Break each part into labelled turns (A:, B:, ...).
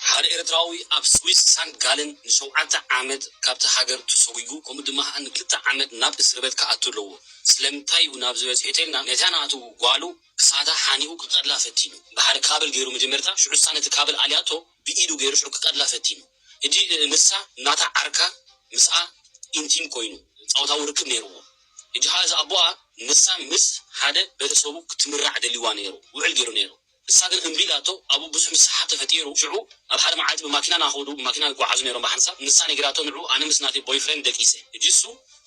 A: ሓደ ኤርትራዊ ኣብ ስዊስ ሳንት ጋለን ንሸውዓተ ዓመት ካብታ ሃገር ተሶጒጉ ከምኡ ድማ ከኣ ንክልተ ዓመት ናብ እስርበት ክኣቱ ኣለዎ ስለምንታይ እዩ ናብዚ በጺሑ ተልና ነታ ናቱ ጓሉ ክሳዳ ሓኒቁ ክቀትላ ፈቲኑ ብሓደ ካብል ጌሩ መጀመርታ ሽዑሳ ነቲ ካብል ኣልያቶ ብኢዱ ጌሩ ሽዑ ክቀትላ ፈቲኑ ህጂ ንሳ ናታ ዓርካ ምስኣ ኢንቲም ኮይኑ ጻውታዊ ርክብ ኔርዎ ህጂ ከኣ እዚ ኣቦኣ ንሳ ምስ ሓደ ቤተሰቡ ክትምራዕ ደሊዋ ኔሩ ውዕል ጌሩ ኔሩ ንሳ ግን እምቢ ኢላቶ ኣብኡ ብዙሕ ምስሕሓብ ተፈጢሩ ሽዑ ኣብ ሓደ መዓልቲ ብማኪና ናኾዱ ብማኪና ይጓዓዙ ነይሮም ብሓንሳብ ንሳ ነጊራቶ ንዑ ኣነ ምስ ናተይ ቦይፍሬንድ ደቂሰ እጅሱ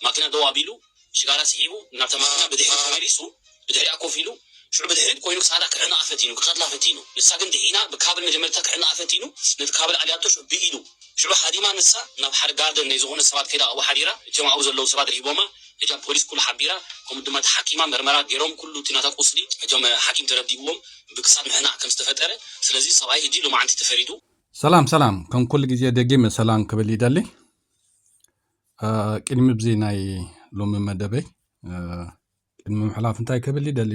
A: ማኪና ደው ኣቢሉ ሽጋራ ሲሒቡ ናብታ ማኪና ብድሕሪት ተመሊሱ ብድሕሪኣ ኮፍ ኢሉ ሽዑ ብድሕሪት ኮይኑ ክሳዳ ክሕንቓ ፈቲኑ ክቀትላ ፈቲኑ ንሳ ግን ድሒና ብካብል መጀመርታ ክሕንቓ ፈቲኑ ነቲ ካብል ኣልያቶ ሽዑ ብኢዱ ሽዑ ሃዲማ ንሳ ናብ ሓደ ጋርደን ናይ ዝኾነ ሰባት ከይዳ ኣብኡ ሓዲራ እቲኦም ኣብኡ ዘለዉ ሰባት ርሂቦማ እጃም ፖሊስ ኩሉ ሓቢራ ከምኡ ድማ ተሓኪማ መርመራ ገይሮም ኩሉ እቲ ናታ ቁስሊ እጃም ሓኪም ተረዲእዎም ብክሳድ ምሕናቅ ከም ዝተፈጠረ ስለዚ ሰብኣይ እጂ ሎማዓንቲ ተፈሪዱ ሰላም ሰላም
B: ከም ኩሉ ግዜ ደጊመ ሰላም ክብል ይደሊ ቅድሚ ብዚ ናይ ሎሚ መደበይ ቅድሚ ምሕላፍ እንታይ ክብል ይደሊ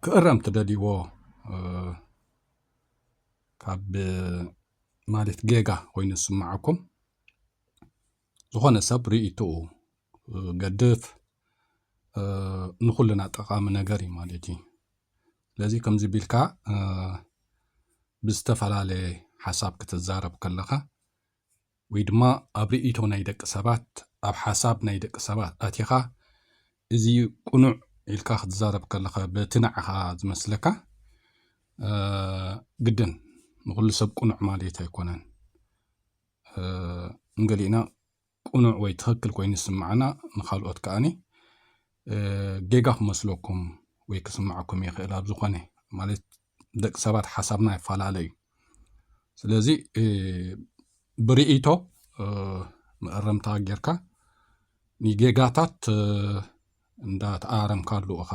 B: ክእረም ትደልይዎ ካብ ማለት ጌጋ ኮይኑ ዝስምዓኩም ዝኾነ ሰብ ርእይትኡ ገድፍ ንኹልና ጠቓሚ ነገር እዩ ማለት እዩ ስለዚ ከምዚ ቢልካ ብዝተፈላለየ ሓሳብ ክትዛረብ ከለኻ ወይ ድማ ኣብ ርእይቶ ናይ ደቂ ሰባት ኣብ ሓሳብ ናይ ደቂ ሰባት ኣቲኻ እዚ ቅኑዕ ኢልካ ክትዛረብ ከለኻ በቲ ንዓኻ ዝመስለካ ግድን ንኹሉ ሰብ ቅኑዕ ማለት ኣይኮነን ንገሊእና ቅኑዕ ወይ ትኽክል ኮይኑ ዝስምዓና ንካልኦት ከዓኒ ጌጋ ክመስለኩም ወይ ክስምዓኩም ይኽእል ኣብ ዝኾነ ማለት ደቂ ሰባት ሓሳብና ይፈላለ እዩ ስለዚ ብርእይቶ መእረምታ ጌርካ ንጌጋታት እንዳተኣረምካሉ እኻ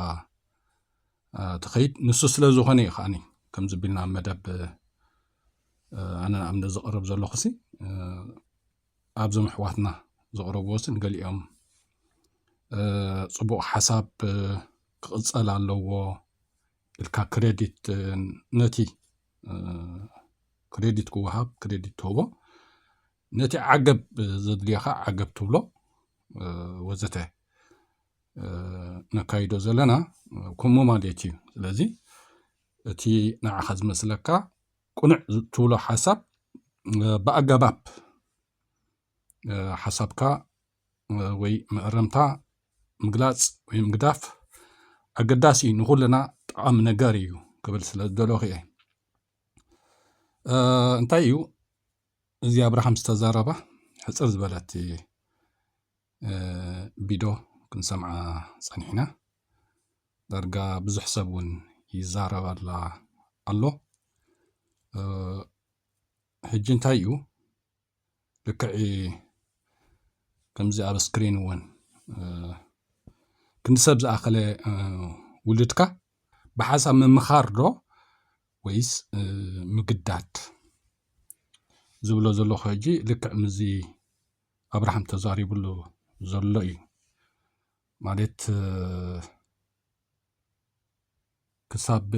B: ትኸይድ ንሱ ስለ ዝኾነ እዩ ከዓኒ ከምዚ ቢልና መደብ ኣነ ኣብ ዘቕርብ ዘለኹሲ ኣብዞም ኣሕዋትና ዘቕረብዎሲ ንገሊኦም ፅቡቕ ሓሳብ ክቕፀል ኣለዎ ኢልካ ክሬዲት ነቲ ክሬዲት ክወሃብ ክሬዲት ትህቦ ነቲ ዓገብ ዘድልዮኻ ዓገብ ትብሎ ወዘተ ነካይዶ ዘለና ከምኡ ማለት እዩ ስለዚ እቲ ንዓኻ ዝመስለካ ቁኑዕ ትብሎ ሓሳብ ብኣጋባብ ሓሳብካ ወይ መእረምታ ምግላፅ ወይ ምግዳፍ ኣገዳሲ እዩ ንኩልና ጠቃሚ ነገር እዩ ክብል ስለ ዝደለኹ እየ እንታይ እዩ እዚ ኣብርሃም ዝተዛረባ ሕፅር ዝበለት ቢዶ ክንሰምዓ ጸኒሕና ዳርጋ ብዙሕ ሰብ እውን ይዛረባላ ኣሎ ሕጂ እንታይ እዩ ልክዕ ከምዚ ኣብ ስክሪን እውን ክንዲ ሰብ ዝኣኸለ ውሉድካ ብሓሳብ ምምኻር ዶ ወይስ ምግዳድ ዝብሎ ዘለኹ ሕጂ ልክዕ ምዚ ኣብርሃም ተዛሪብሉ ዘሎ እዩ ማለት ክሳብ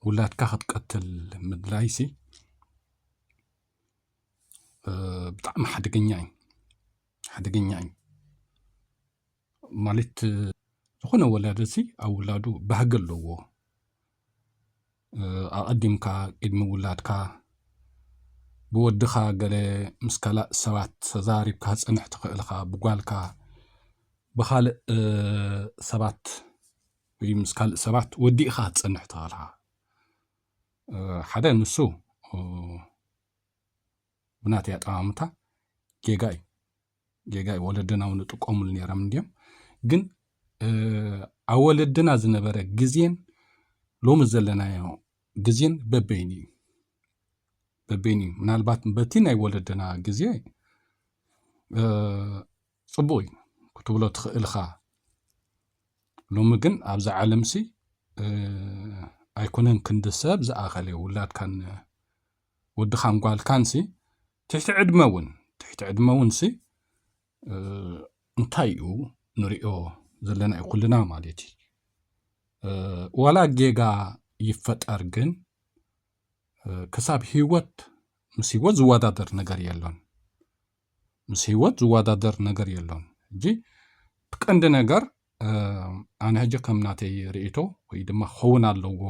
B: ውላድካ ክትቀትል ምድላይሲ ብጣዕሚ ሓደገኛ እዩ ሓደገኛ እዩ ማለት ዝኾነ ወላዲ እዚ ኣብ ውላዱ ባህጊ ኣለዎ ኣቐዲምካ ቅድሚ ውላድካ ብወድኻ ገለ ምስ ካላእ ሰባት ተዛሪብካ ክፀንሕ ትኽእል ኢኻ ብጓልካ ብኻልእ ሰባት ወይ ምስ ካልእ ሰባት ወዲእኻ ክትፀንሕ ትኽእል ኢኻ ሓደ ንሱ ብናተይ ኣጠማምታ ጌጋ እዩ ጌጋ እዩ ወለድና እውን ይጥቀሙሉ ነይሮም እንድዮም ግን ኣብ ወለድና ዝነበረ ግዜን ሎሚ ዘለናዮ ግዜን በበይኑ እዩ በበይኑ እዩ ምናልባት በቲ ናይ ወለድና ግዜ ፅቡቅ እዩ ክትብሎ ትኽእልኻ ሎሚ ግን ኣብዚ ዓለም ሲ ኣይኮነን ክንዲ ሰብ ዝኣኸለ ውላድካን ወድኻን ጓልካን ሲ ትሕቲ ዕድመ እውን ትሕቲ ዕድመ እውንሲ እንታይ እዩ ንሪኦ ዘለና እዩ ኩልና ማለት እዩ ዋላ ጌጋ ይፈጠር ግን ክሳብ ህይወት ምስ ህይወት ዝወዳደር ነገር የሎን ምስ ህይወት ዝወዳደር ነገር የሎን እጂ ቀንዲ ነገር ኣነ ሕጂ ከም ናተይ ርእቶ ወይ ድማ ክኸውን ኣለዎ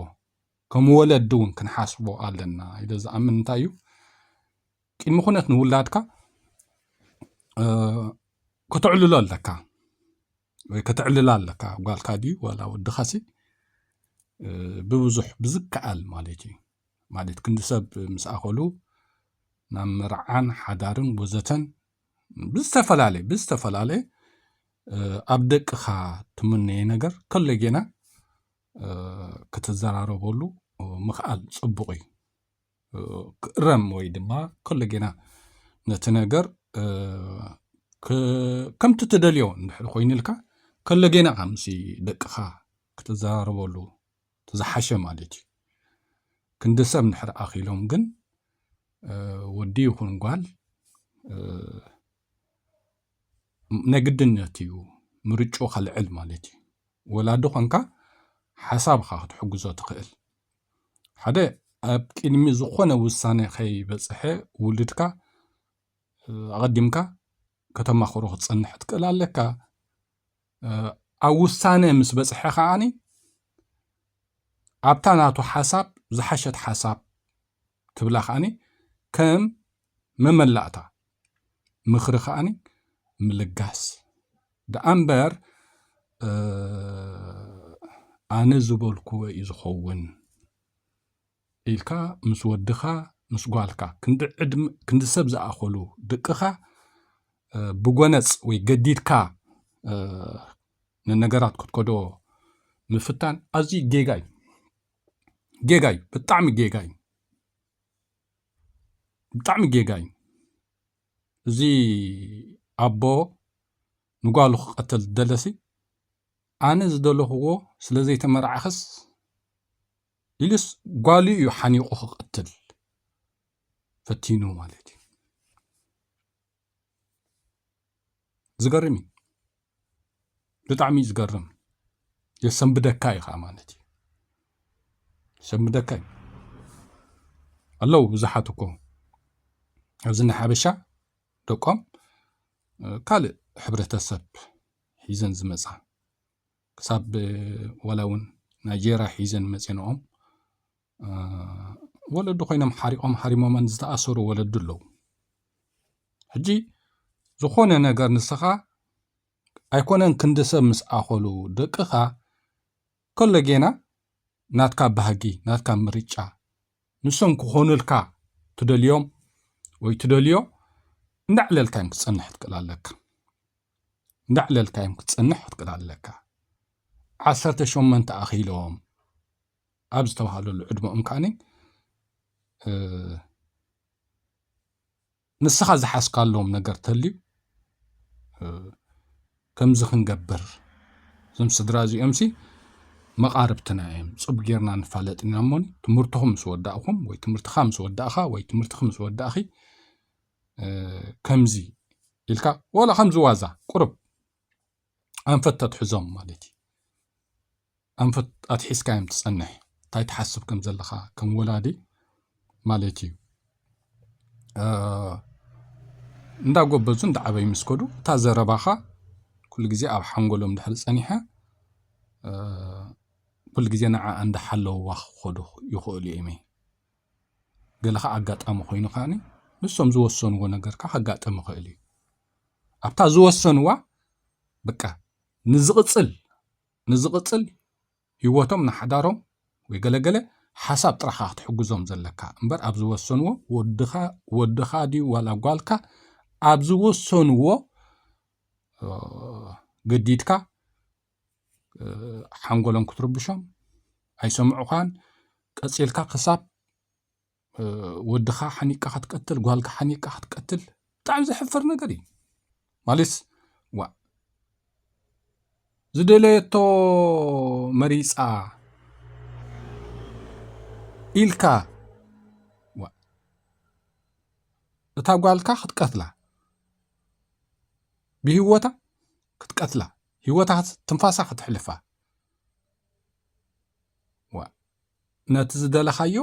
B: ከም ወለዲ እውን ክንሓስቦ ኣለና ኢለ ዝኣምን እንታይ እዩ ቅድሚ ኩነት ንውላድካ ከተዕልሎ ኣለካ ወይ ከተዕልላ ኣለካ ጓልካ ድዩ ዋላ ወድኻሲ ብብዙሕ ብዝከኣል ማለት እዩ ማለት ክንዲ ሰብ ምስ ኣኸሉ ናብ መርዓን ሓዳርን ወዘተን ብዝተፈላለየ ብዝተፈላለየ ኣብ ደቅኻ ትምነየ ነገር ከሎ ጌና ክትዘራረበሉ ምኽኣል ጽቡቕ እዩ ክእረም ወይ ድማ ከሎ ጌና ነቲ ነገር ከምቲ ትደልዮ እንድሕር ኮይኑልካ ከሎ ጌና ኻ ምስ ደቅኻ ክትዘራረበሉ ዝሓሸ ማለት እዩ ክንዲ ሰብ እንድሕር ኣኺሎም ግን ወዲ ይኹን ጓል ነግድነት እዩ ምርጭኡ ከልዕል ማለት እዩ ወላዲ ኮንካ ሓሳብኻ ክትሕግዞ ትኽእል ሓደ ኣብ ቅድሚ ዝኾነ ውሳነ ከይበፅሐ ውልድካ ኣቐዲምካ ከተማኽሮ ክትፀንሕ ትክእል ኣለካ ኣብ ውሳነ ምስ በፅሐ ከዓኒ ኣብታ ናቱ ሓሳብ ዝሓሸት ሓሳብ ትብላ ከዓኒ ከም መመላእታ ምኽሪ ከኣ ምልጋስ ደኣ እምበር ኣነ ዝበልኩዎ እዩ ዝኸውን ኢልካ ምስ ወድኻ ምስ ጓልካ ክንዲ ሰብ ዝኣኸሉ ድቅኻ ብጎነጽ ወይ ገዲድካ ንነገራት ክትከዶ ምፍታን ኣዝዩ ጌጋ እዩ ጌጋ እዩ ብጣዕሚ ጌጋ እዩ ብጣዕሚ ጌጋ እዩ እዚ ኣቦ ንጓሉ ክቀተል ዝደለሲ ኣነ ዝደለክዎ ስለዘይተመርዓክስ ኢሉስ ጓሉ እዩ ሓኒቁ ክቀትል ፈቲኑ ማለት እዩ። ዝገርም እዩ ብጣዕሚ እዩ ዝገርም የሰንብደካ እዩ ከዓ ማለት እዩ የሰንብደካ እዩ ኣለዉ ብዙሓት እኮ ኣብዚ ናይ ሓበሻ ደቆም ካልእ ሕብረተሰብ ሒዘን ዝመፃ ክሳብ ዋላ እውን ናይጀርያ ሒዘን መፂንኦም ወለዲ ኮይኖም ሓሪቆም ሓሪሞመን ዝተኣሰሩ ወለዲ ኣለዉ ሕጂ ዝኾነ ነገር ንስኻ ኣይኮነን ክንዲ ሰብ ምስ ኣኸሉ ደቅኻ ከሎ ጌና ናትካ ባህጊ ናትካ ምርጫ ንሶም ክኾኑልካ ትደልዮም ወይ ትደልዮ እንዳዕለልካ እዮም ክትጸንሕ ትክእል ኣለካ እንዳዕለልካ እዮም ክትጸንሕ ትክእል ኣለካ ዓሰርተ ሸመንተ ኣኺሎም ኣብ ዝተባሃለሉ ዕድመኦም ከዓኒ ንስኻ ዝሓስካሎም ነገር ተልዩ ከምዚ ክንገብር እዞም ስድራ እዚኦምሲ መቓርብትና እዮም ፅብ ጌርና ንፋለጥ ኢና እሞ ትምህርትኹም ምስ ወዳእኹም ወይ ትምህርትኻ ምስ ወዳእኻ ወይ ትምህርትኺ ምስ ወዳእኺ ከምዚ ኢልካ ዋላ ከምዚ ዋዛ ቁርብ ኣንፈት ተትሕዞም ማለት እዩ ኣንፈት ኣትሒዝካዮም ትጸንሕ ታይ ትሓስብ ከም ዘለኻ ከም ወላዲ ማለት ኢዩ እንዳ ጎበዙ እንዳ ዓበዩ ምስ ከዱ እታ ዘረባኻ ኩሉ ግዜ ኣብ ሓንጎሎም ድሕሪ ጸኒሓ ኩሉ ግዜ ንዓ እንዳ ሓለውዋ ክኸዱ ይኽእሉ ኢዮም እይ ገለ ከኣ ኣጋጣሚ ኮይኑ ከኣ ንሶም ዝወሰንዎ ነገር ከኣ ከጋጥም ይኽእል ኢዩ ኣብታ ዝወሰንዋ በቃ ንዝቕጽል ንዝቕጽል ሂወቶም ንሓዳሮም ወይ ገለ ገለ ሓሳብ ጥራሕ ኢኻ ክትሕግዞም ዘለካ እምበር ኣብ ዝወሰንዎ ወድኻ ወድኻ ድዩ ዋላ ጓልካ ኣብ ዝወሰንዎ ገዲድካ ሓንጎሎም ክትርብሾም ኣይሰምዑኻን ቀጺልካ ክሳብ ወድኻ ሓኒቅካ ክትቀትል ጓልካ ሓኒቅካ ክትቀትል ብጣዕሚ ዘሕፍር ነገር እዩ ማለትስ ዋእ ዝደለየቶ መሪፃ ኢልካ ዋእ እታ ጓልካ ክትቀትላ ብሂወታ ክትቀትላ ሂወታ ትንፋሳ ክትሕልፋ ነቲ ዝደለኻዮ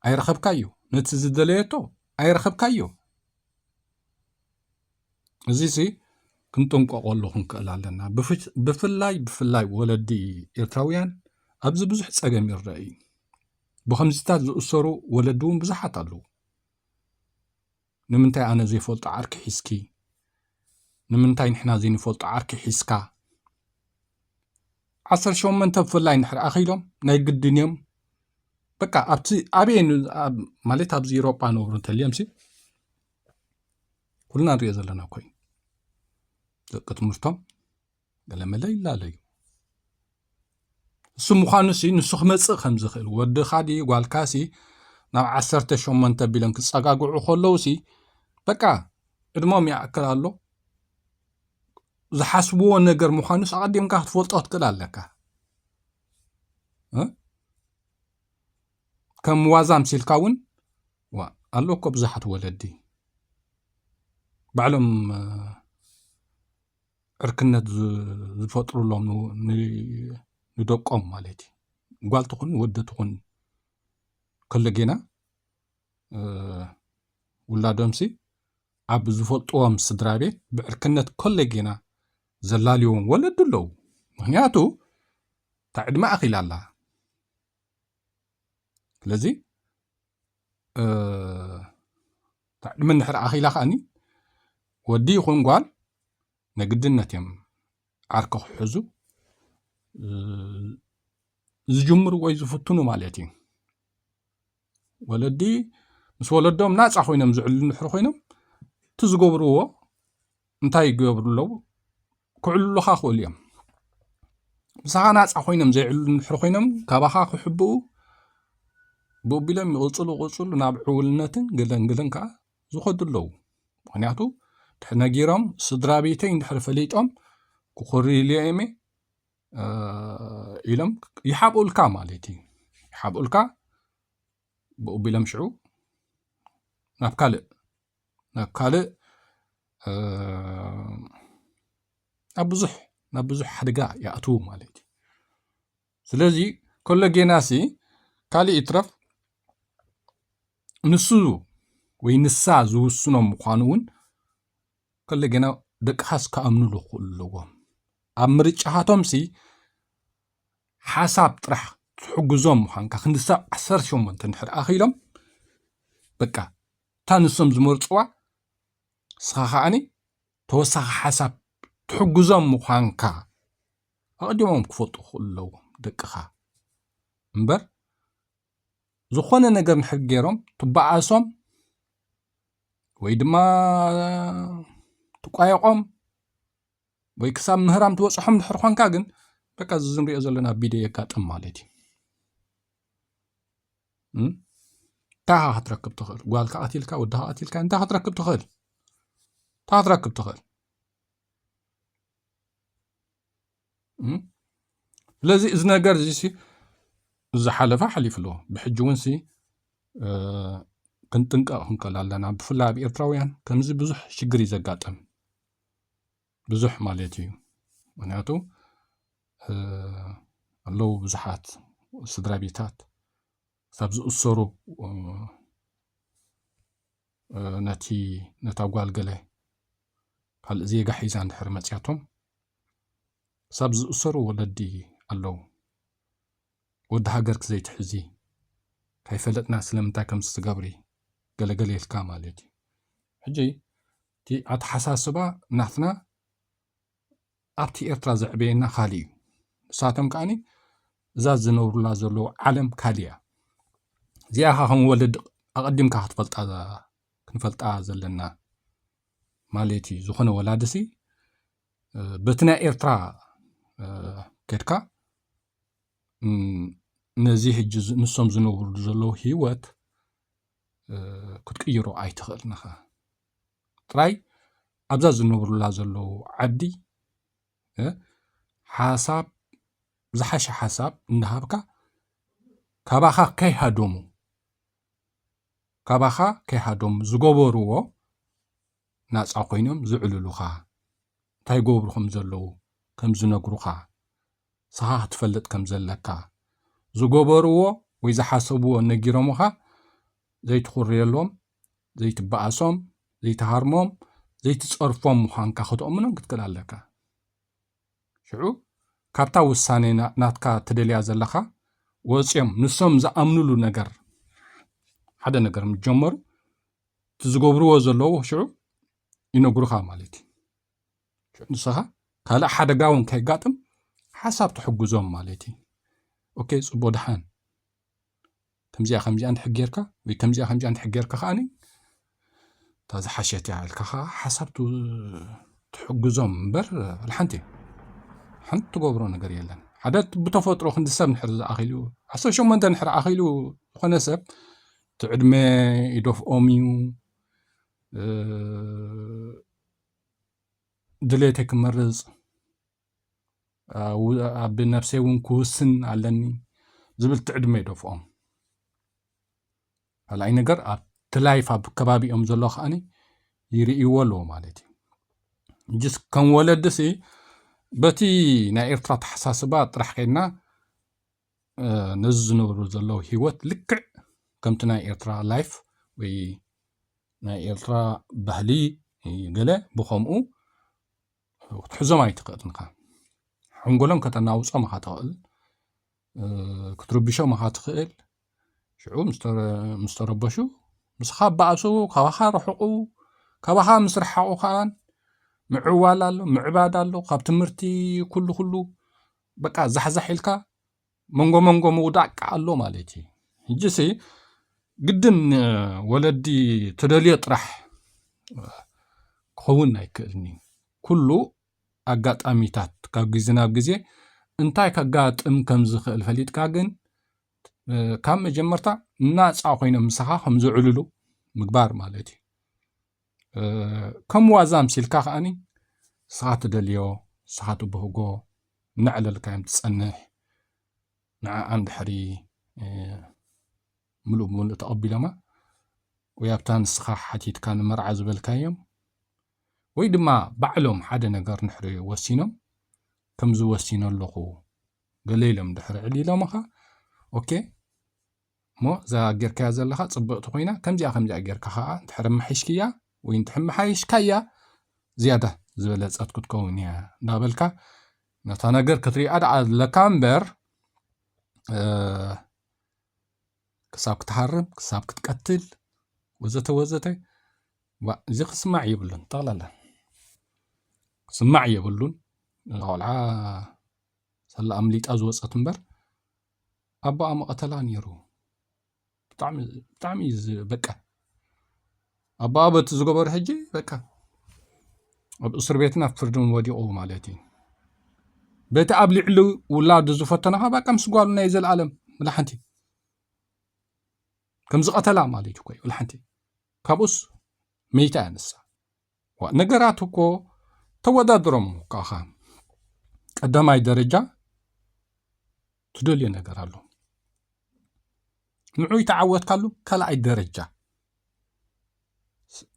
B: ኣይረኸብካዮ ነቲ ዝደለየቶ ኣይረኸብካዮ እዚ ሲ ክንጥንቀቐሉ ክንክእል ኣለና ብፍላይ ብፍላይ ወለዲ ኤርትራውያን ኣብዚ ብዙሕ ጸገም ይረአ እዩ ብከምዚታት ዝእሰሩ ወለዲ እውን ብዙሓት ኣለዉ ንምንታይ ኣነ ዘይፈልጦ ዓርኪ ሒዝኪ ንምንታይ ንሕና ዘይንፈልጦ ዓርኪ ሒዝካ ዓሰርተ ሸሞንተ ብፍላይ እንድሕር ኣኺሎም ናይ ግድን እዮም በቃ ኣብቲ ኣበየ ማለት ኣብዚ ኢሮጳ ነብሩ እንተልዮምሲ ኩልና ንሪኦ ዘለና ኮይኑ ደቂ ትምህርቶም ገለመለ ይላለ እዩ እሱ ምዃኑ ሲ ንሱ ክመፅእ ከም ዝኽእል ወድኻ ዲ ጓልካ ሲ ናብ ዓሰርተ ሸሞንተ ቢሎም ክፀጋግዑ ከለዉ ሲ በቃ ዕድሞም ይኣክል ኣሎ ዝሓስብዎ ነገር ምዃኑስ ኣቐዲምካ ክትፈልጦ ክትክእል ኣለካ ከም ዋዛ ምሲልካ እውን ዋ ኣሎ እኮ ብዙሓት ወለዲ ባዕሎም ዕርክነት ዝፈጥሩሎም ንደቆም ማለት እዩ ጓል ትኹን ወዲ ትኹን ከሎ ጌና ውላዶምሲ ኣብ ዝፈልጥዎም ስድራ ቤት ብዕርክነት ከሎ ጌና ዘላልዎም ወለዲ ኣለዉ ምክንያቱ እታ ዕድመ ኣኺላ ኣላ ስለዚ ዕድመ እንድሕር ኣኺላ ከኣኒ ወዲ ይኹን ጓል ነግድነት እዮም ዓርኪ ክሕዙ ዝጅምሩ ወይ ዝፍትኑ ማለት እዩ ወለዲ ምስ ወለዶም ናፃ ኮይኖም ዝዕሉ እንድሕር ኮይኖም እቲ ዝገብርዎ እንታይ ይገብሩ ኣለዉ ክዕልሉኻ ክእሉ እዮም ምሳኻ ናፃ ኮይኖም ዘይዕሉ እንድሕር ኮይኖም ካባኻ ክሕብኡ ብቢሎም ይቕፅሉ ቅፅሉ ናብ ዕውልነትን ገለንግልን ከዓ ዝኸዱ ኣለዉ ምክንያቱ ድሕር ነጊሮም ስድራ ቤተይ እንድሕር ፈሊጦም ክኹርይሉ እዮም ኢሎም ይሓብኡልካ ማለት እዩ ይሓብኡልካ ብኡ ቢሎም ሽዑ ናብ ካልእ ናብ ካልእ ናብ ብዙሕ ናብ ብዙሕ ሓደጋ ይኣትዉ ማለት እዩ ስለዚ ከሎ ጌናሲ ካልእ ይትረፍ ንሱ ወይ ንሳ ዝውስኖም ምዃኑ እውን ክል ግና ደቅኻስ ክኣምኑሉ ክኽእሉ ኣለዎም ኣብ ምርጫኻቶምሲ ሓሳብ ጥራሕ ትሕግዞም ምዃንካ ክንሳብ ዓሰርተ ሸሞንተ እንድሕር ኣኺሎም በቃ እታ ንሶም ዝመርፅዋ ንስኻ ከዓኒ ተወሳኺ ሓሳብ ትሕግዞም ምዃንካ ኣቐዲሞም ክፈልጡ ክኽእሉ ኣለዎም ደቅኻ እምበር ዝኾነ ነገር ንሕር ገይሮም ትበኣሶም ወይ ድማ ትቋየቖም ወይ ክሳብ ምህራም ትበፅሖም ድሕር ኾንካ ግን በቃ እዚ ንሪኦ ዘለና ቢደዮ የጋጥም ማለት እዩ እንታይ ካ ክትረክብ ትኽእል ጓልካ ቀትልካ ወድካ ቀትልካ እንታይ ክትረክብ ትኽእል እንታይ ክትረክብ ትኽእል ስለዚ እዚ ነገር እዚ ዝሓለፈ ሓሊፉ ኣሎ ብሕጂ እውን ክንጥንቀቕ ክንከል ኣለና ብፍላይ ኣብ ኤርትራውያን ከምዚ ብዙሕ ሽግር እዩ ዘጋጥም ብዙሕ ማለት እዩ ምክንያቱ ኣለዉ ብዙሓት ስድራ ቤታት ሳብ ዝእሰሩ ነቲ ነታ ጓል ገለ ካልእ ዜጋ ሒዛ እንድሕር መፅያቶም ክሳብ ዝእሰሩ ወለዲ ኣለው ወዲ ሃገርኪ ዘይትሕዚ ከይፈለጥና ስለምንታይ ከምዚ ትገብሪ ገለገለ ኢልካ ማለት እዩ ሕጂ እቲ ኣተሓሳስባ ናትና ኣብቲ ኤርትራ ዘዕበየና ካልእ እዩ ንሳቶም ከዓኒ እዛ ዝነብሩላ ዘለዉ ዓለም ካልእ እያ እዚኣ ካ ከም ወለዲ ኣቐዲምካ ክትፈልጣ ክንፈልጣ ዘለና ማለት እዩ ዝኾነ ወላድሲ በቲ ናይ ኤርትራ ከድካ ነዚ ሕጂ ንሶም ዝነብርሉ ዘለዉ ህይወት ክትቅይሮ ኣይትኽእልን ኢኻ ጥራይ ኣብዛ ዝነብሩላ ዘለዉ ዓዲ ሓሳብ ዝሓሸ ሓሳብ እንዳሃብካ ካባኻ ከይሃደሙ ካባኻ ከይሃደሙ ዝገበርዎ ናጻ ኮይኖም ዝዕልሉኻ እንታይ ይገብሩ ከም ዘለዉ ከም ዝነግሩኻ ንስኻ ክትፈልጥ ከም ዘለካ ዝገበርዎ ወይ ዝሓሰብዎ ነጊሮምኻ ዘይትኹርየሎም ዘይትበኣሶም ዘይትሃርሞም ዘይትጸርፎም ምዃንካ ክትእምኖም ክትክእል ኣለካ ሽዑ ካብታ ውሳኔ ናትካ ትደልያ ዘለኻ ወጽዮም ንሶም ዝኣምኑሉ ነገር ሓደ ነገር ምስ ጀመሩ እቲ ዝገብርዎ ዘለዉ ሽዑ ይነግሩኻ ማለት እዩ ሽዑ ንስኻ ካልእ ሓደጋ እውን ከይጋጥም ሓሳብ ትሕግዞም ማለት እዩ ኦኬ ፅቡቅ ድሓን ከምዚኣ ከምዚኣ እንድሕር ጌርካ ወይ ከምዚኣ ከምዚኣ እንድሕር ጌርካ ከዓኒ እታ ዝሓሸት እያ ኢልካ ከዓ ሓሳብ ትሕግዞም እምበር ሓንቲ ሓንቲ ትገብሮ ነገር የለን ሓደ ብተፈጥሮ ክንዲ ሰብ ንድሕር ዝኣኺሉ ዓሰርተ ሸሞንተ ንድሕር ኣኺሉ ዝኾነ ሰብ እቲ ዕድመ ይደፍኦም እዩ ድሌተይ ክመርፅ ኣብ ነብሰይ እውን ክውስን ኣለኒ ዝብል እቲ ዕድመ ይደፍኦም ካልኣይ ነገር ኣብቲ ላይፍ ኣብ ከባቢኦም ዘሎ ከዓኒ ይርእይዎ ኣለዎ ማለት እዩ ጅስ ከም ወለድሲ በቲ ናይ ኤርትራ ተሓሳስባ ጥራሕ ከይድና ነዚ ዝነብሩ ዘለዉ ህይወት ልክዕ ከምቲ ናይ ኤርትራ ላይፍ ወይ ናይ ኤርትራ ባህሊ ገለ ብኸምኡ ክትሕዞም ኣይትኽእልን ኢኻ ሓንጎሎም ከተናውጾም ኢኻ ትኽእል ክትርብሾም ኢኻ ትኽእል ሽዑ ምስ ተረበሹ ምስኻ በኣሱ ካባኻ ርሕቑ ካባኻ ምስ ረሓቑ ከኣ ምዕዋል ኣሎ ምዕባድ ኣሎ ካብ ትምህርቲ ኩሉ ኩሉ በቃ ዛሕዛሕ ኢልካ መንጎ መንጎ ምውዳቅ ከ ኣሎ ማለት እዩ ሕጂሲ ግድን ወለዲ ትደልዮ ጥራሕ ክኸውን ኣይክእልን እዩ ኩሉ ኣጋጣሚታት ካብ ግዜ ናብ ግዜ እንታይ ከጋጥም ከም ዝኽእል ፈሊጥካ ግን ካብ መጀመርታ ናፃ ኮይኖም ምሳኻ ከም ዝዕልሉ ምግባር ማለት እዩ ከም ዋዛ ኣምሲልካ ከዓኒ ንስኻ ትደልዮ ንስኻ ትብህጎ እናዕለልካዮም ትፀንሕ ንዓኣን ድሕሪ ምሉእ ብምሉእ ተቐቢሎማ ወይ ኣብታ ንስኻ ሓቲትካ ንመርዓ ዝበልካዮም ወይ ድማ ባዕሎም ሓደ ነገር ንሕሪ ወሲኖም ከምዚ ወሲኖ ኣለኹ ገለ ኢሎም ድሕሪ ዕሊሎምኻ ኦኬ እሞ እዛ ጌርካያ ዘለኻ ጽብቕቲ ኮይና ከምዚኣ ከምዚኣ ጌርካ ከኣ እንተሕር ኣማሒሽክያ ወይ እንተሕ መሓይሽካያ ዝያዳ ዝበለጸት ክትከውን እያ እንዳበልካ ነታ ነገር ክትሪኣ ደኣ ኣለካ እምበር ክሳብ ክትሃርም ክሳብ ክትቀትል ወዘተ ወዘተ እዚ ክስማዕ የብሉን ጠቕላላ ክስማዕ የብሉን ቆልዓ ሰላ ኣምሊጣ ዝወፀት እምበር ኣቦኣ ምቐተላ ኔሩ ብጣዕሚ ብጣዕሚ እዩ ዝ- በቃ ኣቦኣ በቲ ዝገበሩ ሕጂ በቃ ኣብ እስር ቤትን ኣብ ፍርድን ወዲቑ ማለት እዩ በቲ ኣብ ልዕሊ ውላዱ ዝፈተኖ ከዓ በቃ ምስ ጓሉ ናይ ዘለኣለም ብላሓንቲ ከም ዝቐተላ ማለት እዩ ኮይ ብላሓንቲ ካብኡስ መይታ እያ ንሳ ዋእ ነገራት እኮ ተወዳድሮም ካኻ ቀዳማይ ደረጃ ትደልዮ ነገር ኣሎ ንዑ ይተዓወትካሉ ካልኣይ ደረጃ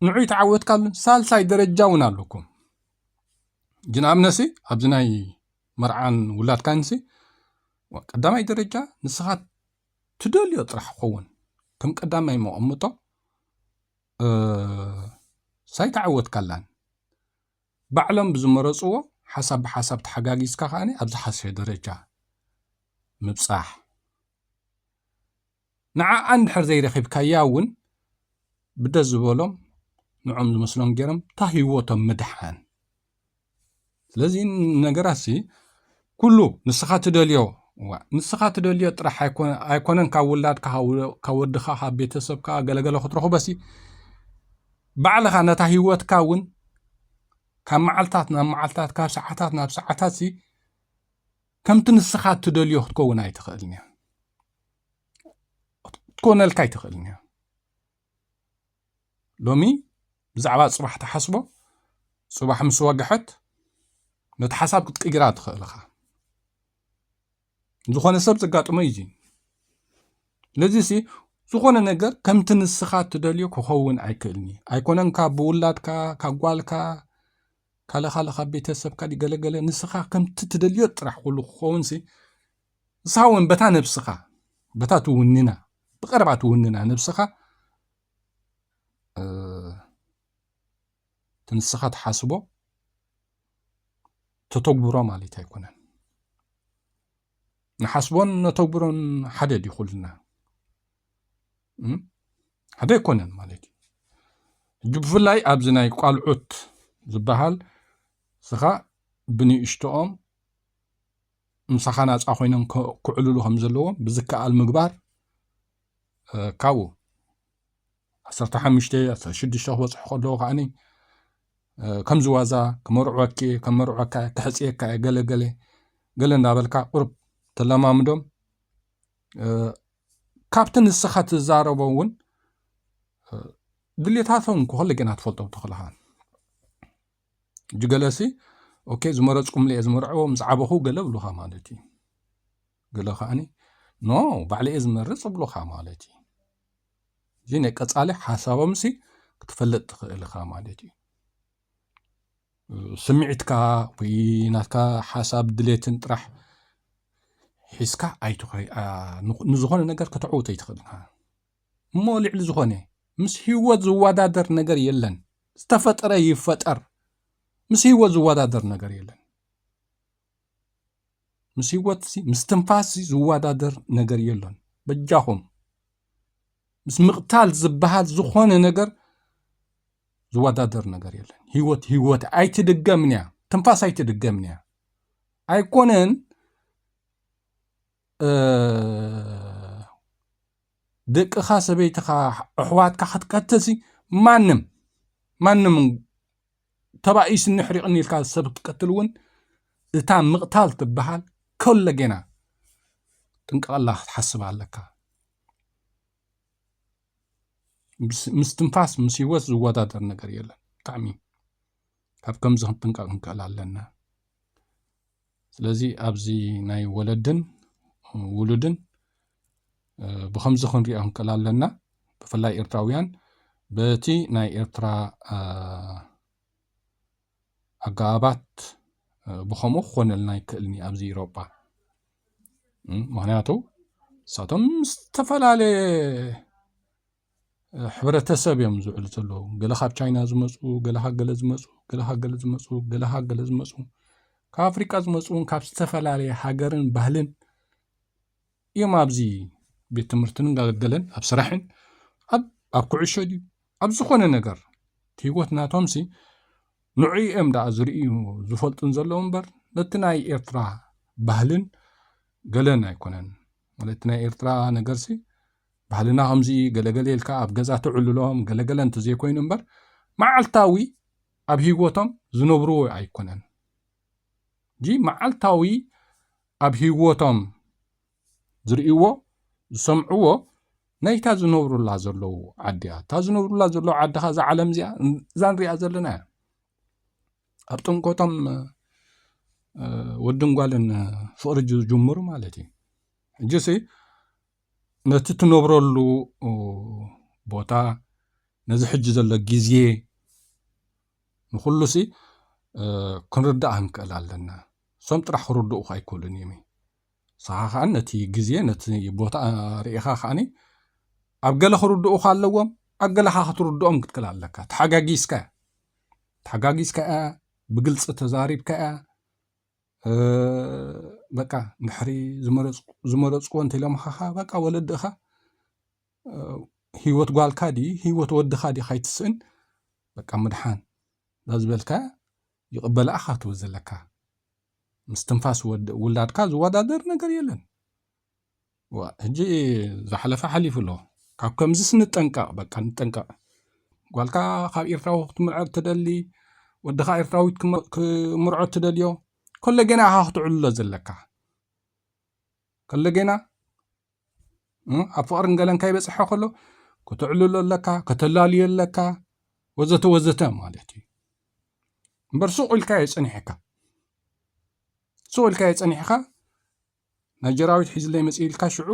B: ንዑ ይተዓወትካሉ ሳልሳይ ደረጃ እውን ኣለኩም ግን ኣብነሲ ኣብዚ ናይ መርዓን ውላድካንሲ ቀዳማይ ደረጃ ንስኻ ትደልዮ ጥራሕ ክኸውን ከም ቀዳማይ መቐምጦ እህ ሳይ ተዓወትካላን ባዕሎም ብዝመረፅዎ ሓሳብ ብሓሳብ ተሓጋጊዝካ ከዓኒ ኣብ ዝሓሸ ደረጃ ምብፃሕ ንዓኣ እንድሕር ዘይረኺብካያ እውን ብደስ ዝበሎም ንዖም ዝመስሎም ገይሮም እታ ህይወቶም ምድሓን ስለዚ ነገራሲ ኩሉ ንስኻ ትደልዮ ንስኻ ትደልዮ ጥራሕ ኣይኮነን ካብ ውላድካ ካብ ወድኻ ካብ ቤተሰብካ ገለገለ ክትረኽቦሲ ባዕልኻ ነታ ሂወትካ እውን ካብ መዓልታት ናብ መዓልታት ካብ ሰዓታት ናብ ሰዓታት ሲ ከምቲ ንስኻ እትደልዮ ክትከውን ኣይትኽእልን እያ ክትኮነልካ ኣይትኽእልን እያ ሎሚ ብዛዕባ ጽባሕ ትሓስቦ ጽባሕ ምስ ወግሐት ነቲ ሓሳብ ክትቅይራ ትኽእል ኢኻ ዝኾነ ሰብ ዘጋጥሞ እዩ ስለዚ ሲ ዝኾነ ነገር ከምቲ ንስኻ እትደልዮ ክኸውን ኣይክእልኒ ኣይኮነን ካብ ብውላድካ ካብ ጓልካ ካለ ካለ ካብ ቤተሰብካ ገለገለ ንስኻ ከምቲ ትደልዮ ጥራሕ ኩሉ ክኸውን ሲ ንስኻ እውን በታ ነብስኻ በታ ትውንና ብቐረባ ትውንና ነብስኻ እቲ ንስኻ ትሓስቦ ተተግብሮ ማለት ኣይኮነን ንሓስቦን ነተግብሮን ሓደ ድዩ ኩልና ሓደ ኣይኮነን ማለት እዩ ሕጂ ብፍላይ ኣብዚ ናይ ቋልዑት ዝበሃል ስኻ ብንእሽቶኦም ምሳኻ ናፃ ኮይኖም ክዕልሉ ከም ዘለዎም ብዝከኣል ምግባር ካብኡ ዓሰርተ ሓሙሽተ ዓሰርተ ሽዱሽተ ክበፅሑ ከለዎ ከዓኒ ከምዚ ዋዛ ክመርዕወኪ እየ ከም መርዕወካ እየ ክሕፅየካ እየ ገለ ገለ ገለ እንዳበልካ ቁርብ ተለማምዶም ካብቲ ንስኻ ትዛረቦ እውን ድሌታቶም ክኸለ ግና ትፈልጦም ተኽእልኻ ሕጂ ገለሲ ኦኬ ዝመረጽኩምለ እየ ዝመርዐዎ ምስ ዓበኹ ገለ ብሉኻ ማለት እዩ ገለ ከዓኒ ኖ ባዕለ እየ ዝመርጽ ብሉኻ ማለት እዩ እዚ ናይ ቀጻሊ ሓሳቦምሲ ክትፈልጥ ትኽእል ኢኻ ማለት እዩ ስምዒትካ ወይ ናትካ ሓሳብ ድሌትን ጥራሕ ሒዝካ ኣይትኸ ንዝኾነ ነገር ከተዕውቶ ኣይትኽእል ኢኻ እሞ ልዕሊ ዝኾነ ምስ ህይወት ዝወዳደር ነገር የለን። ዝተፈጠረ ይፈጠር ምስ ህይወት ዝወዳደር ነገር የለን። ምስ ህይወት ምስ ትንፋስ ዝወዳደር ነገር የሎን። በጃኹም ምስ ምቕታል ዝበሃል ዝኾነ ነገር ዝወዳደር ነገር የለን። ህይወት ህይወት ኣይትድገምን እያ፣ ትንፋስ ኣይትድገምን እያ። ኣይኮነን ደቅኻ ሰበይትኻ ኣሕዋትካ ክትቀትልሲ ማንም ማንም ተባኢስኒ ሕሪቕኒ ኢልካ ሰብ ክትቀትል እውን እታ ምቕታል ትበሃል ኮለጌና ጥንቀቐላ ክትሓስብ ኣለካ ምስ ትንፋስ ምስ ህይወት ዝወዳደር ነገር የለን ብጣዕሚ ካብ ከምዚ ክንጥንቀቕ ክንክእል ኣለና ስለዚ ኣብዚ ናይ ወለድን ውሉድን ብከምዚ ክንሪኦ ክንክእል ኣለና ብፍላይ ኤርትራውያን በቲ ናይ ኤርትራ ኣገባባት ብከምኡ ክኾነልና ይክእልኒ ኣብዚ ኢሮጳ ምክንያቱ ንሳቶም ዝተፈላለየ ሕብረተሰብ እዮም ዝውዕሉ ዘለዉ ገለ ካብ ቻይና ዝመፁ ገለ ካብ ገለ ዝመፁ ገለ ካብ ገለ ዝመፁ ገለ ካብ ገለ ዝመፁ ካብ ኣፍሪቃ ዝመፁ እውን ካብ ዝተፈላለየ ሃገርን ባህልን እዮም ኣብዚ ቤት ትምህርትን ገለን ኣብ ስራሕን ኣብ ኩዕሾ ድዩ ኣብ ዝኾነ ነገር እቲ ህይወት ናቶምሲ ንዑ እዮም ደኣ ዝርእዩ ዝፈልጡን ዘለዉ እምበር ነቲ ናይ ኤርትራ ባህልን ገለን ኣይኮነን ማለት ናይ ኤርትራ ነገርሲ ባህልና ከምዚ እዩ ገለ ገለ ኢልካ ኣብ ገዛ ተዕልሎም ገለ ገለ እንተዘይኮይኑ እምበር መዓልታዊ ኣብ ህይወቶም ዝነብርዎ ኣይኮነን ጂ መዓልታዊ ኣብ ህይወቶም ዝርእይዎ ዝሰምዕዎ ናይታ ዝነብሩላ ዘለዉ ዓዲ እያ እታ ዝነብሩላ ዘለዉ ዓዲ ከ እዛ ዓለም እዚኣ እዛ ንሪኣ ዘለና እያ ኣብ ጥምቀቶም ወድን ጓልን ፍቕሪ ዝጅምሩ ማለት እዩ ሕጂሲ ነቲ ትነብረሉ ቦታ ነዚ ሕጂ ዘሎ ግዜ ንኹሉሲ ክንርዳእ ክንክእል ኣለና እሶም ጥራሕ ክርድኡ ኣይክእሉን እዩም ንስኻ ከዓ ነቲ ግዜ ነቲ ቦታ ርኢኻ ከዓኒ ኣብ ገለ ክርድኡካ ኣለዎም ኣብ ገለኻ ክትርድኦም ክትክል ኣለካ ተሓጋጊዝካ ተሓጋጊዝካ እያ ብግልፂ ተዛሪብካ እያ በቃ ድሕሪ ዝመረፅኩ እንተይሎምኻ ኸዓ በቃ ወለድኻ ሂወት ጓልካ ድዪ ሂወት ወድኻ ድዪ ካይትስእን በቃ ምድሓን ላዝበልካያ ይቅበላ እኻ ትብል ዘለካ ምስትንፋስ ውላድካ ዝወዳደር ነገር የለን። ሕጂ ዝሓለፈ ሓሊፉ ኣሎ ካብ ከምዚስ ንጠንቀቕ በቃ ንጠንቀቕ ጓልካ ካብ ኤርትራዊ ክትምርዖ ትደሊ ወድኻ ኤርትራዊት ክምርዖ ትደልዮ ከሎ ጌና ኢኻ ክትዕልሎ ዘለካ ከሎ ጌና ኣብ ፍቕርን ገለን ከይበፅሐ ከሎ ከተዕልሎ ኣለካ ከተላልዮ ኣለካ ወዘተ ወዘተ ማለት እዩ እምበር ሱቕ ኢልካዮ ፀኒሕካ ሱቕ ኢልካዮ ፀኒሕካ ናይ ጀራዊት ሒዝለይ መጽእ ኢልካ ሽዑ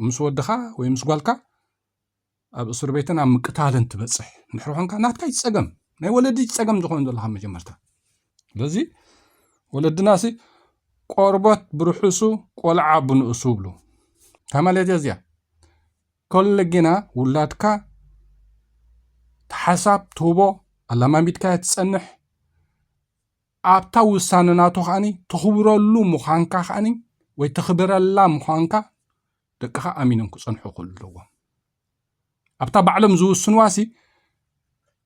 B: ምስ ወድኻ ወይ ምስ ጓልካ ኣብ እስር ቤትን ኣብ ምቅታልን ትበጽሕ ንድሕሪ ኮንካ ናትካ እዩ ጸገም ናይ ወለዲ ጸገም ዝኾኑ ዘለካ መጀመርታ ስለዚ ወለድናሲ ቆርቦት ብርሑሱ ቆልዓ ብንእሱ ብሉ ካብ ማለትያ እዚያ ከሎ ግና ውላድካ ሓሳብ ትህቦ ኣላማሚድካ ትፀንሕ ኣብታ ውሳነ ናቱ ከኣ ትኽብረሉ ምዃንካ ከኣ ወይ ተኽብረላ ምዃንካ ደቅኻ ኣሚኖም ክጸንሑ ክለዎም ኣብታ ባዕሎም ዝውስንዋሲ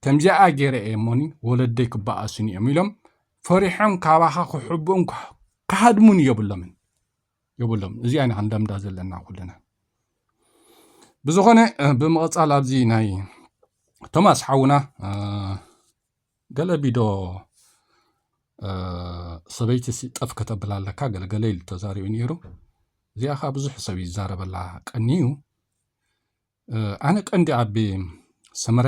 B: ከምዚኣ ገይረ እየ እሞኒ ወለደይ ክበኣሱኒ እዮም ኢሎም ፈሪሖም ካባኻ ክሕብኡን ክሃድሙን የብሎምን የብሎም እዚኣ ኢና ክንለምዳ ዘለና ኩልና ብዝኾነ ብምቕጻል ኣብዚ ናይ ቶማስ ሓውና ገለ ቢዶ ሰበይቲ ሲ ጠፍ ከተብላ ኣለካ ገለ ገለ ኢሉ ተዛሪቡ ነይሩ እዚኣ ከዓ ብዙሕ ሰብ ይዛረበላ ቀንዩ ኣነ ቀንዲ ኣቢ ሰመረ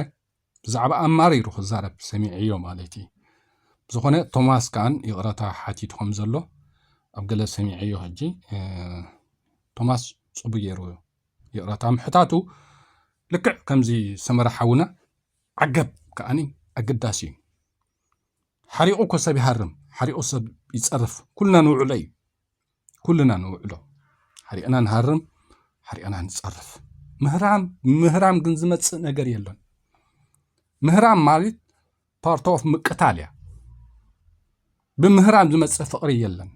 B: ብዛዕባ ኣማሪሩ ክዛረብ ሰሚዐዮ ማለት እዩ ብዝኾነ ቶማስ ከዓን ይቕረታ ሓቲቱ ከም ዘሎ ኣብ ገለ ሰሚዐዮ ሕጂ ቶማስ ፅቡ ገይሩ ይቕረታ ምሕታቱ ልክዕ ከምዚ ሰመረ ሓውና ዓገብ ከኣኒ ኣገዳሲ እዩ። ሓሪቑ እኮ ሰብ ይሃርም፣ ሓሪቑ ሰብ ይጸርፍ። ኩልና ንውዕሎ እዩ፣ ኩልና ንውዕሎ ሓሪቕና ንሃርም፣ ሓሪቕና ንጸርፍ። ምህራም ምህራም ግን ዝመጽእ ነገር የለን። ምህራም ማለት ፓርት ኦፍ ምቅታል እያ። ብምህራም ዝመጽእ ፍቕሪ የለን።